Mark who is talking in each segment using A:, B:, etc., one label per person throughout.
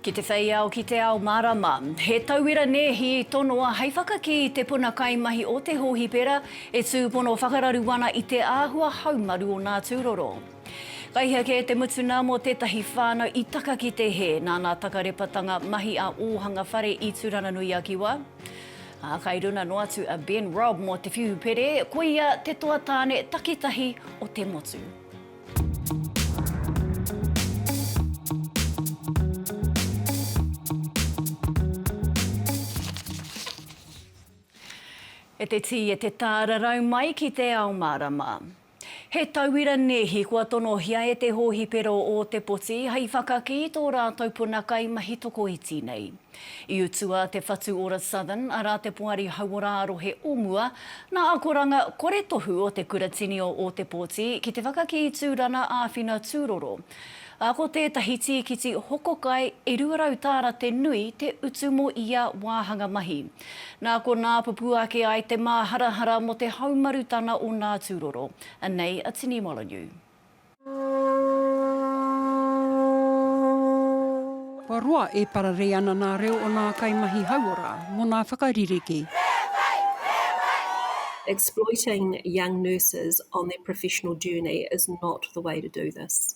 A: Ki te whei ao, ki te ao marama. He tauira nēhi i tonoa hei whakakī i te puna kaimahi o te hōhipera e tūpono whakararu ana i te āhua haumaru o nā tūroro. Kai hea kē te mutunga mō tētahi whānau i taka ki te hē nāna takarepatanga mahi a Ōhanga Whare i Tūranganui-a-Kiwa? Ā, kai runa noa atu a Ben Robb mō te whiu pere, ko ia te toa tāne takitahi o te motu. E te tī, e te tā, rarau mai ki te ao mārama. He tauira nēhi kua tonohia e te hōhipera o Ōtepoti hei whakakī i tō rātou puna kai mahi tokoiti nei. I utua te whatu ora Southern, arā te poari hauora ā-rohe o mua, nā akoranga kore tohu o te kuratini o Ōtepoti ki te whakakī i Tūrana āwhina tūroro, ā, ko tētahi tīkiti hoko kai e 200 tāra te nui te utu mō ia wāhanga mahi. Nā konā pupū ake ai te māharahara mō te haumarutana o nā tūroro. Anei a Tini Molonū.
B: Kua roa e pararei ana nā reo o nā kaimahi hauora mō nā whakaririki.
C: Exploiting young nurses on their professional journey is not the way to do this.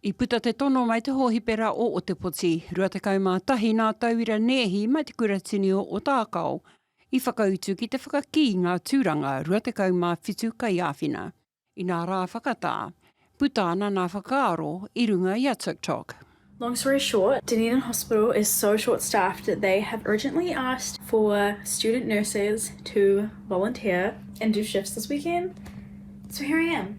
C: I puta te tono
B: mai te hōhipera o Otepoti, 21 nā Tauira Neehi mai te Kuratini o Otaakao i whakautu ki te whakakī i ngā tūranga 27 kaiāwhina. Inā rā whakatā, puta ana nā whakaaro i runga i a TikTok. Long story
D: short, Dunedin Hospital is so short staffed that they have urgently asked for student nurses to volunteer and do shifts this weekend, so here I am.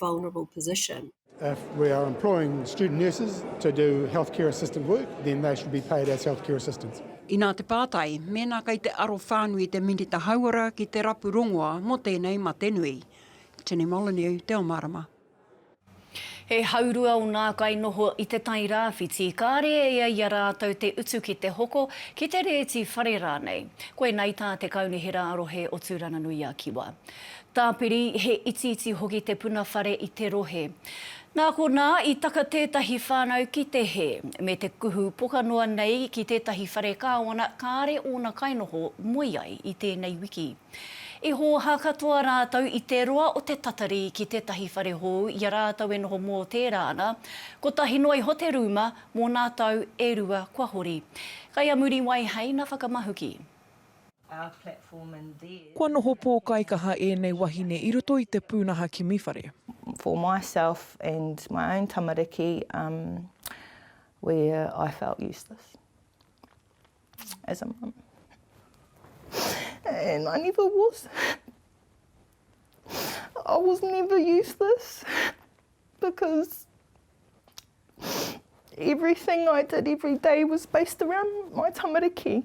C: vulnerable position. If we are
E: employing student nurses to do healthcare assistant work, then they should be paid as healthcare assistants. Inā te pātai,
B: mēnā kei te aro whānui te Minita Hauora ki te rapu rongoa mō tēnei mate nui. Jenny Molyneux, Te Omarama.
A: He haurua o nā kainoho i Te Tai Rāwhiti, kāre e ai i a rātou te utu ki te hoko, ki te rēti whare rānei. Koinei tā te Kaunihera Arohe o Tūranganui-a-Kiwa. Tāpiri, he itiiti hoki te puna whare i te rohe. Nā konā, i taka tētahi whānau ki te hē, me te kuhu poka noa nei ki tētahi whare kāwana kāre ōna kainoho moe ai i tēnei wiki. I hōhā katoa rātou i te roa o te tatari ki tētahi whare hou i a rātou e noho mō tērā ana, kotahi noa iho te rūma mō nā tau e rua kua hori. Kai a Muriwai hei na Whakamahuki.
F: Kua noho pōkaikaha ēnei wahine i roto i te pūnaha kimi whare. For myself
G: and my own tamariki um where I felt useless as a mum and I never was I was never useless because everything I did every day was based around my tamariki.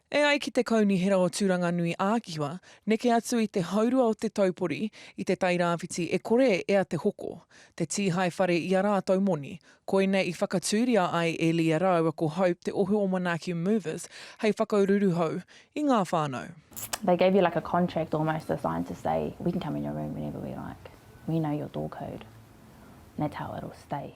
H: E ai ki te
F: Kaunihera o Tūranganui-ā-Kiwa, neke atu i te haurua o te taupori, i Te Tai Rāwhiti e kore e ea te hoko, te tīhae whare i a rātou moni. Koinei i whakatūria ai e Leah rāua ko Hope te ohu o Manaaki Movers hei whakauruuru hou i ngā whānau. They gave you like a
I: contract almost the sign to say we can come in your room whenever we like, we know your door code and that's how it'll stay.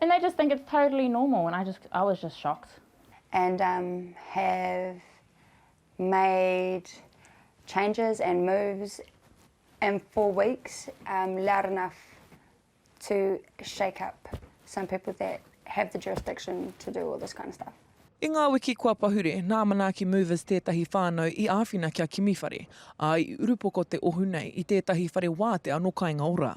I: And they just think it's totally normal and I just I was just shocked. And um
H: have made changes and moves in four weeks um loud enough to shake up some people that have the jurisdiction to do all this kind of stuff. I ngā wiki kua
F: pahure, nā Manaaki Movers tētahi whānau i āwhina kia kimi whare, ā, i urupoko te ohu nei i tētahi whare wātea nō Kāinga Ora.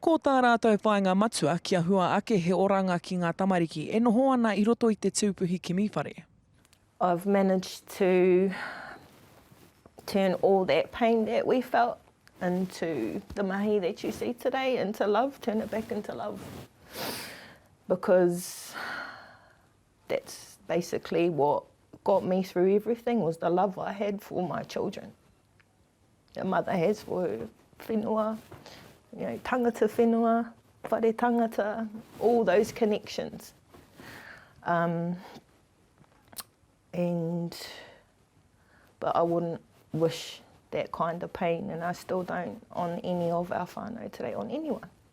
H: Ko tā rātou
F: whāinga matua, kia hua ake he oranga ki ngā tamariki e noho ana i roto i te tūpuhi kimi whare. I've
G: managed to turn all that pain that we felt into the mahi that you see today, into love, turn it back into love because that's basically what got me through everything was the love I had for my children. Your mother has for her whenua, you know, tangata whenua, whare tangata, all those connections. Um, and, but I wouldn't wish that kind of pain, and I still don't on any of our whānau today, on anyone.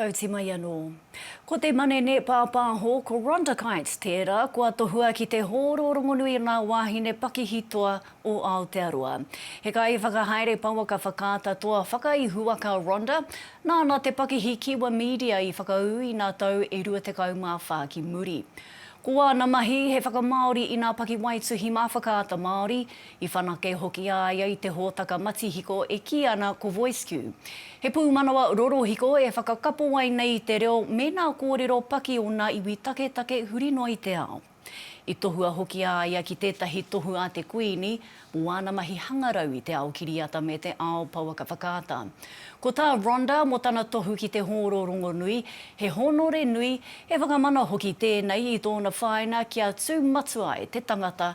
A: Tauti mai anō. Ko te manene pāpāho, ko Rhonda Kite tērā kua tohua ki te hōro rongonui ngā wāhine pakihi toa o Aotearoa. He kaiwhakahaere pouaka whakaata toa whakaihuwaka Rhonda, nāna te pakihi Kiwa Media i whakaū i ngā tau e 24 ki muri. Ko āna mahi he whakamāori i ngā pakiwaituhi mā Whakaata Māori, I whanake hoki a ia i te hōtaka matihiko e kī ana ko VoiceQ. He pūmanawa rorohiko e whakakapo ai nei i te reo me nā kōrero paki o nā iwi taketake huri noa i te ao. I tohua hoki a ia ki tētahi tohu a te Kuini mō āna mahi hangarau i te ao kiriata me te ao pouaka whakaata. Ko tā Rhonda mō tana tohu ki te hōro rongonui, he hōnore nui, he whakamana hoki tēnei i tōna whāina kia tū matua ai te tangata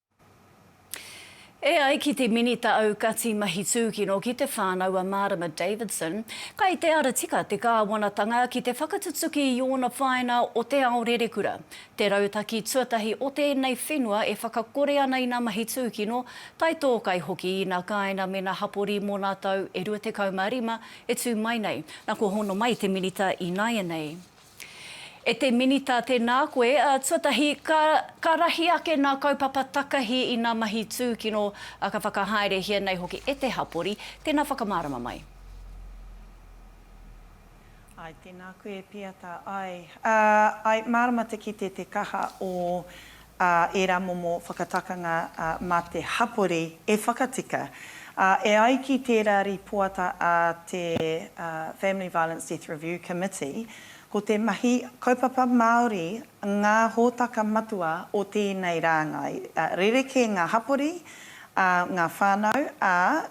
A: E ai ki te Minita Aukati Mahi Tūkino ki te Whānau a Mārama Davidson, kai te ara tika te kāwanatanga ki te whakatutuki i ōna whāinga o te ao rerekura, te rautaki tuatahi o tēnei whenua e whakakore ana ina mahi tūkino, taitōkai hoki ina kāinga me na hapori mō nā tau e 25 e tū mai nei, na kua hono mai te Minita ināianei. E te Minita, tēnā koe. Tuatahi, ka, ka rahi ake ngā kaupapa takahi i ngā mahi tūkino, ā, ka whakahaerehia nei hoki e te hapori. Tēnā whakamārama mai.
J: Āe, tēnā koe, Pīata. Āe, āe, mārama te kite te kaha o ā, ērā momo whakatakanga mā te hapori e whakatika. Ā, e ai ki tērā rīpoata a te Family Violence Death Review Committee, ko te mahi kaupapa Māori ngā hōtaka matua o tēnei rāngai. Rerekē ngā hapori, ā, ngā whānau, ā,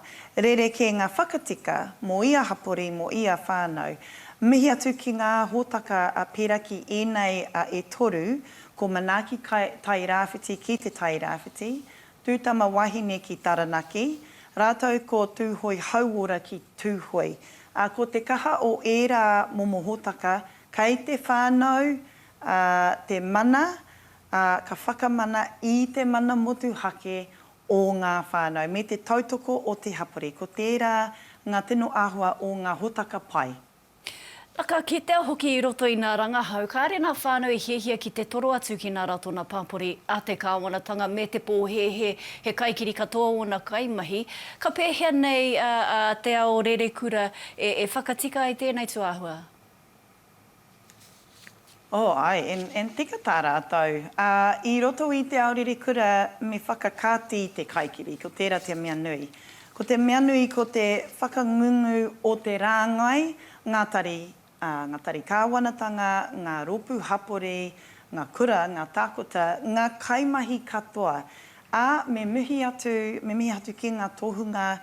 J: rerekē ngā whakatika mō ia hapori, mō ia whānau. Mihi atu ki ngā hōtaka pērā ki ēnei e toru Ko Manaaki Tairāwhiti ki Te Tairāwhiti, Tūtama Wahine ki Taranaki, rātou ko Tūhoe Hauora ki Tūhoe. Ā, ko te kaha o ērā momo hōtaka, kei te whānau te mana, ā, ka whakamana i te mana motuhake o ngā whānau, me te tautoko o te hapori. Ko tērā ngā tino āhua o ngā hōtaka pai. Na ka
A: kitea hoki i roto i na rangahau kaere na whanau i hiahia ki te toro atu ki na ratona papori a te kawanatanga me te pohehe he kaikiri katoa ona kaimahi. Ka pehea nei a Te Ao Rerekura e whakatika ai tenei tuahua?
J: Oh ae, and tika ta ratou. I roto i te ao rirekura me whakakati te kaikiri, ko tera te mea nui. Ko te mea nui ko te whakangungu o te rangai, nga tari, nga tari kawanatanga, nga ropu hapori, nga kura, nga takota, nga kaimahi katoa. A me mihi atu, me mihi atu ki nga tohunga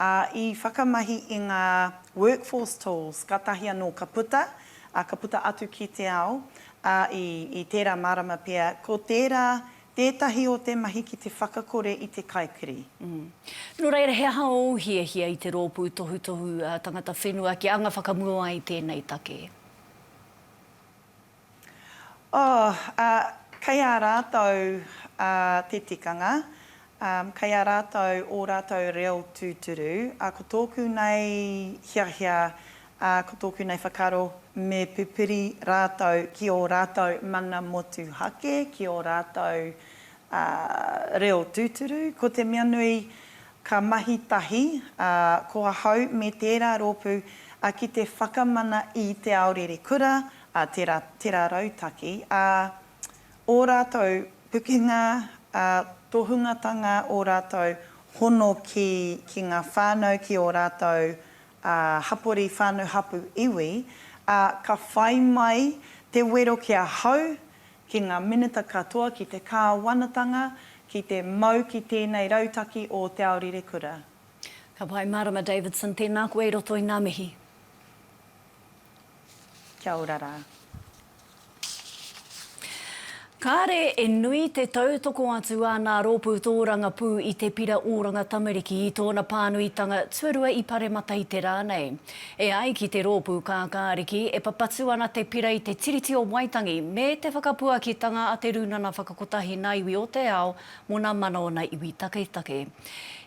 J: Ā, i whakamahi i ngā workforce tools kātahi anō ka puta, ā, ka puta atu ki te ao, ā, i, i tērā marama pea, ko tērā tētahi o te mahi ki te whakakore i te kaikiri. Mm. Nō
A: reira, he aha ōu hiahia i te Rōpū Tohutohu Tangata Whenua kia anga whakamua ai tēnei take?
J: Oh, ā, kei a rātou te tikanga, ā, kei a rātou ō rātou reo tūturu, ā, ko tōku nei hiahia, ā, ko tōku nei whakaaro, me pupuri rātou ki ō rātou mana motuhake, ki ō rātou, ā, reo tūturu. Ko te mea nui, ka mahi tahi, ā, ko ahau me tērā rōpū, ā, ki te whakamana i Te Ao Rere Kura, a tera, tera rautaki, a o ratou pukenga, a tohungatanga o ratou hono ki, ki nga whanau ki o ratou, a hapori whanu hapu iwi, a ka whai mai te wero ki a hau, ki nga minita katoa ki te kawanatanga ki te mau ki tenei rautaki o Te Ao Rire Kura. Ka pai
A: Marama Davidson, tēnā koe i roto i ngā mihi.
J: Kia ora rā.
A: Kāre e nui te tautoko atu a nā Rōpū Tōrangapū i Te Pira Oranga Tamariki i tōna pānuitanga tuarua i Paremata i te rā nei. E ai ki te rōpū kākāriki, e papatu ana te pira i te Tiriti o Waitangi me te whakapuakitanga a te Rūnana Whakakotahi Nā Iwi o te Ao Mona mana ona iwi taketake.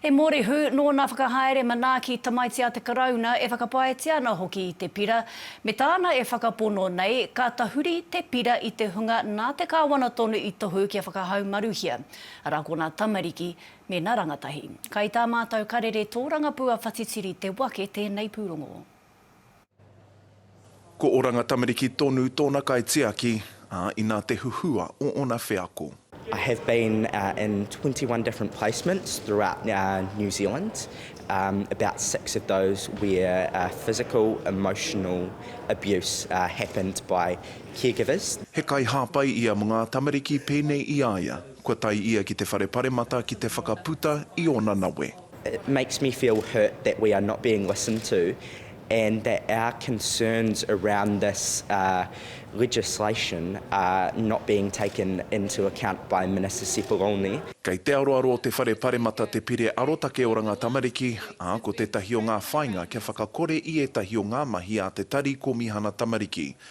A: He morihu nō nā whakahaere manaaki tamaiti a te Karauna e whakapaetia ana hoki i te pira, me tāna e whakapono nei, ka tahuri te pira i te hunga nā te Kāwana tonu i tohu kia whakahaumaruhia, arā ko nā tamariki me nā rangatahi. Kai tā mātou karere tōrangapū a Whatitiri te wake tēnei pūrongo.
K: Ko Oranga Tamariki tonu tōna kaitiaki, ā, inā te huhua o ōna wheako. I have been
L: in twenty one different placements throughout New Zealand, about six of those where physical, emotional abuse happened by care givers. He kaihāpai
K: ia mō ngā tamariki pēnei i a ia, kua tae ia ki te whare paremata ki te whakaputa i ōna
L: nawe. It makes
K: me
L: feel hurt that we
K: are
L: not being listened to and that our concerns around this legislation are not being taken into account by Minister Sepuloni. Kei te aroaro o
K: te Whare Paremata te Pire Arotake Oranga Tamariki, ā, ko tētahi o ngā whāinga kia whakakore i ētahi o ngā mahi a te Tari Kōmihana Tamariki,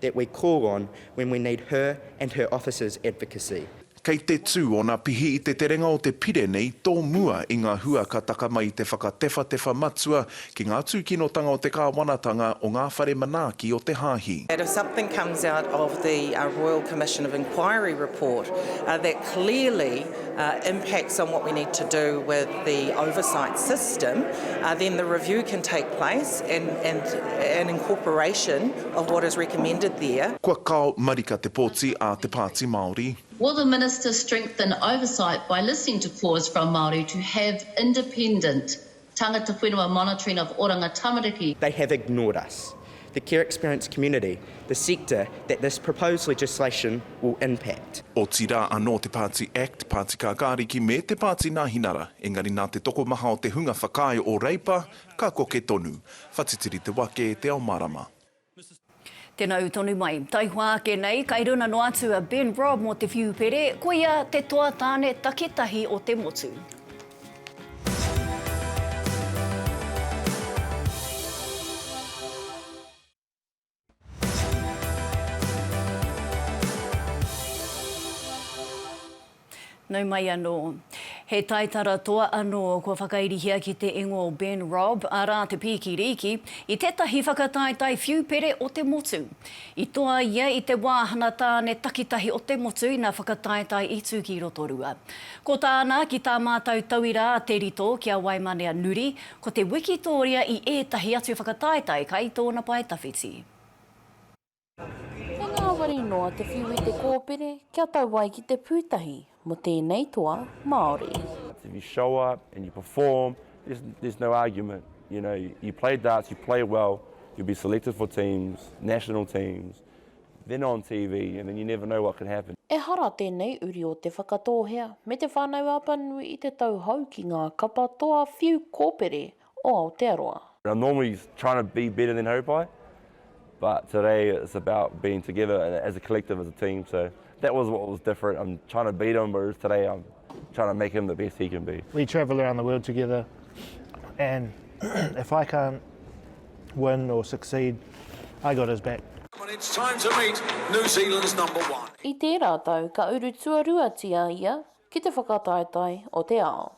L: that we call on when we need her and her office's advocacy. Kei te tū
K: ōna pihi i te terenga o te Pire nei tō mua i ngā hua ka taka mai i te whakatewhatewha matua ki ngā tūkinotanga o te kāwanatanga o ngā whare manaaki o te Hāhi. That if something comes
M: out of the Royal Commission of Inquiry report that clearly impacts on what we need to do with the oversight system, then the review can take place and incorporation of what is recommended there. Kua kao marika
K: te poti a te Pāti Māori. Will the Minister
N: strengthen oversight by listening to cause from Māori to have independent tangata whenua monitoring of oranga tamariki? They have ignored
L: us, the care experience community, the sector that this proposed legislation will impact. Otirā anō
K: te Pāti act, Pāti Kākāriki me te Pāti Nāhinara, engari nā te tokomaha o te hunga whakaae o Reipa, Ka koke tonu. Whatitiri te wake, te ao marama.
A: Tena u tonu mai. Taihoa ake nei, kai runa no atu a Ben Robb mo te whiu pere, koia te toa tane takitahi o te motu. Nau mai anō. He taitara toa anō kua whakairihia ki te ingoa o Ben Robb, arā te pīki rīki, i tētahi whakataetae whiu pere o te motu. I toa ia i te wāhana tāne takitahi o te motu ina whakataetae i tū ki Rotorua. Ko tāna, ki tā mātou tauira a Te Rito ki a Waimanea Nuri, Ko te wikitōria i ētahi atu whakataetae kai tōna pae tawhiti.
O: He ngāwari noa te whiu i te kōpere kia tau ai ki te pūtahi mō tēnei toa Māori. If you show
P: up and you perform, there's there's no argument. You know, you play darts, you play well, you'll be selected for teams, national teams, They're not on TV and then you never know what could happen. Ehara tēnei
O: uri o Te Whakatōhea me Te Whānau-a-Apanui i te tau hou ki ngā kapa toa whiu kōpere o Aotearoa. I normally
P: trying to be better than hope I but today it's about being together as a collective as a team so that was what was different I'm trying to beat him whereas today I'm trying to make him the best he can be. We travel around the world
Q: together and if I can't win or succeed, I got his back.
R: I tērā tau
O: ka uru tuaruatia ia ki te whakataetae o te ao.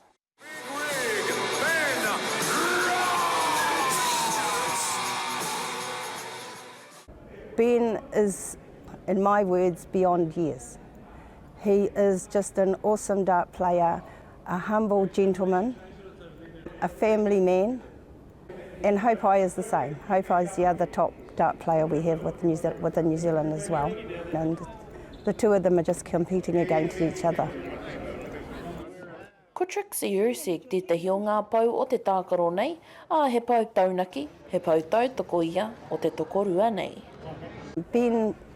S: Ben is in my words beyond years. He is just an awesome dart player, a humble gentleman, a family man, And Haupai is the same. Haupai is the other top dart player we have with New Zealand, within New Zealand as well. And the two of them are just competing against each other.
O: Ko Trixie Ursig tētahi o ngā pou o te tākaro nei, ā, he pou taunaki, he pou tautoko ia o te tokorua nei. Been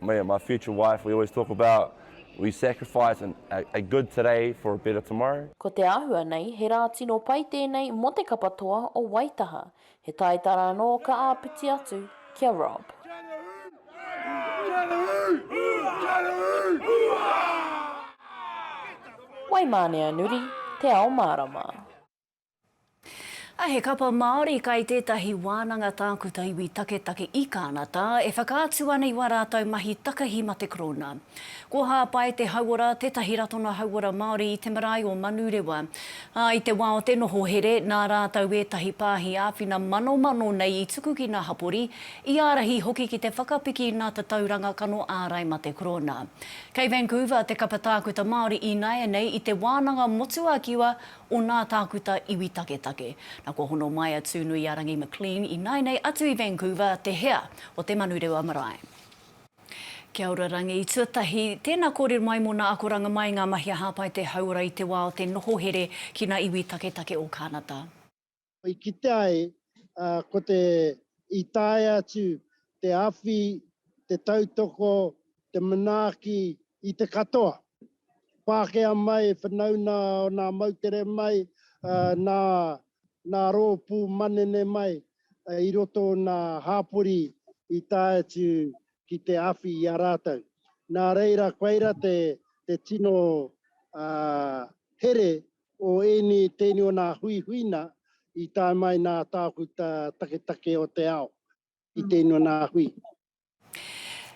Q: Me and my future
P: wife we always talk about we sacrifice and a good today for a better tomorrow. Ko te āhua nei,
O: he rā tino pai tēnei mō te kapa toa o Waitaha. He taitara anō ka āpiti atu ki a Rob. Waimāneanuri, Te Ao Mārama.
A: A he kapa Māori kai tētahi wānanga tākuta iwi taketake i Kānata e whakaatu ana i wā rātou mahi takahi ma te Korona. Ko Hāpai Te Hauora tētahi ratonga hauora Māori i te marae o Manurewa. Ā, i te wā o te noho here, nā rātou ētahi pāhi āwhina manomano nei i tuku ki ngā hapori, i ārahi hoki ki te whakapiki i ngā tatauranga kano ārai ma te Korona. Kei Vancouver te kapa tākuta Māori ināianei i te wānanga motuakiwa o nā tākuta iwi taketake. Na kua hono mai a Tūnuiarangi McLean i nainei atu i Vancouver, te hea o te Manurewa Marae. Kia ora Rangi, tuatahi, tēnā kōrero mai mō nā akoranga mai ngā mahi a Hāpai Te Hauora i te wā o te noho here ki nā iwi taketake o Kānata. I
T: kitea ai, ā, ko te, i tae atu te awhi, te tautoko, te manaaki i te katoa. Pākehā mai, whanauna o nā moutere mai, ā, nā, nā rōpū manene mai, ā, i roto o nā hāpori i tae atu ki te awhi i a rātou. Nā reira, koira te, te tino, ā, here O ēnei tēnei o nā huihuina i tae mai nā Tākuta Taketake o te Ao i tēnei o nā hui.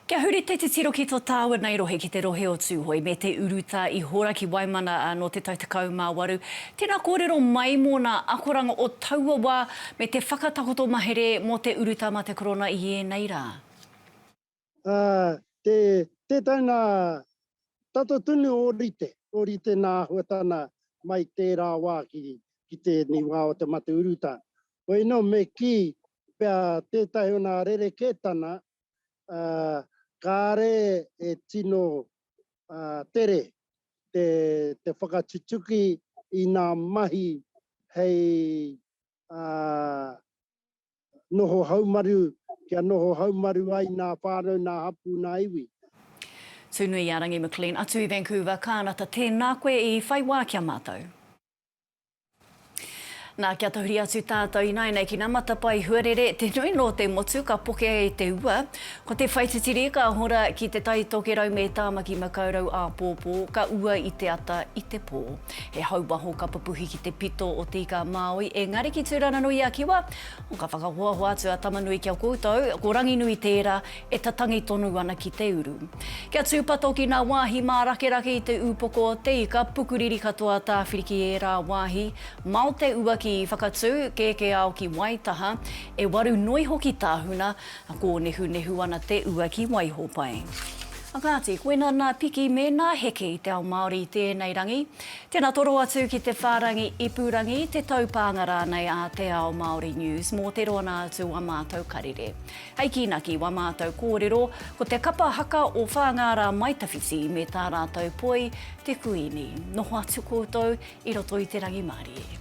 A: Kia huri te titiro ki tō tāua nei rohe ki te rohe o Tūhoe me te urutā i hora ki Waimana nō te tau 18. Tēnā kōrero mai mō nā akoranga o taua wā me te whakatakoto mahere mō te urutā mā te Korona i ēnei rā. Ā, te,
T: tētahi nā tato tunu ōrite, ōrite nā āhuatana mai tērā wā ki, ki tēnei wā o te mate urutā. Hoino me kī pea tētahi o nā rerekētana, ā, kāre e tino, ā, tere te, te whakatutuki i nā mahi hei, ā, noho haumaru, kia noho haumaru ai nā whānau, nā hapū, nā iwi.
A: Tūnui-ā-rangi McLean atu i Vancouver, Kānata, tēnā koe i whai wā ki a mātou. Nā, kia tahuri atu tātou ināianei ki nā matapae huarere, te nui nō te motu ka pokea e te ua. Ko te whai titiri ka hora ki Te Tai Tokerau me Tāmaki Makaurau āpōpō, ka ua i te ata i te pō. He hau waho ka pupuhi ki te pito o Te Ika a Māui, engari ki Tūranganui-a-Kiwa, o ka whakahoahoa atu a Tamanui ki a koutou, ko Ranginui tērā e tatangi tonu ana ki te uru. Kia tūpato ki ngā wāhi mārakerake i te ūpoko o Te Ika, pukuriri katoa tāwhiri ki ērā wāhi, mao te ua ki Whakatū, kēkēao ki Waitaha, e waru noi hoki tāhuna, A kōnehunehu ana te ua ki waiho pai. A kāti, koina nā piki me nā heke i te ao Māori i tēnei rangi. Tēnā toro atu ki te whārangi ipurangi, te taupānga rānei a Te Ao Māori News mō te roanga atu o ā mātou karere. Hei kīnaki i wā mātou kōrero, ko te kapa haka o Whāngārā Maitawhiti me tā rātou poi, te Kuini. Noho atu koutou i roto i te rangimārie.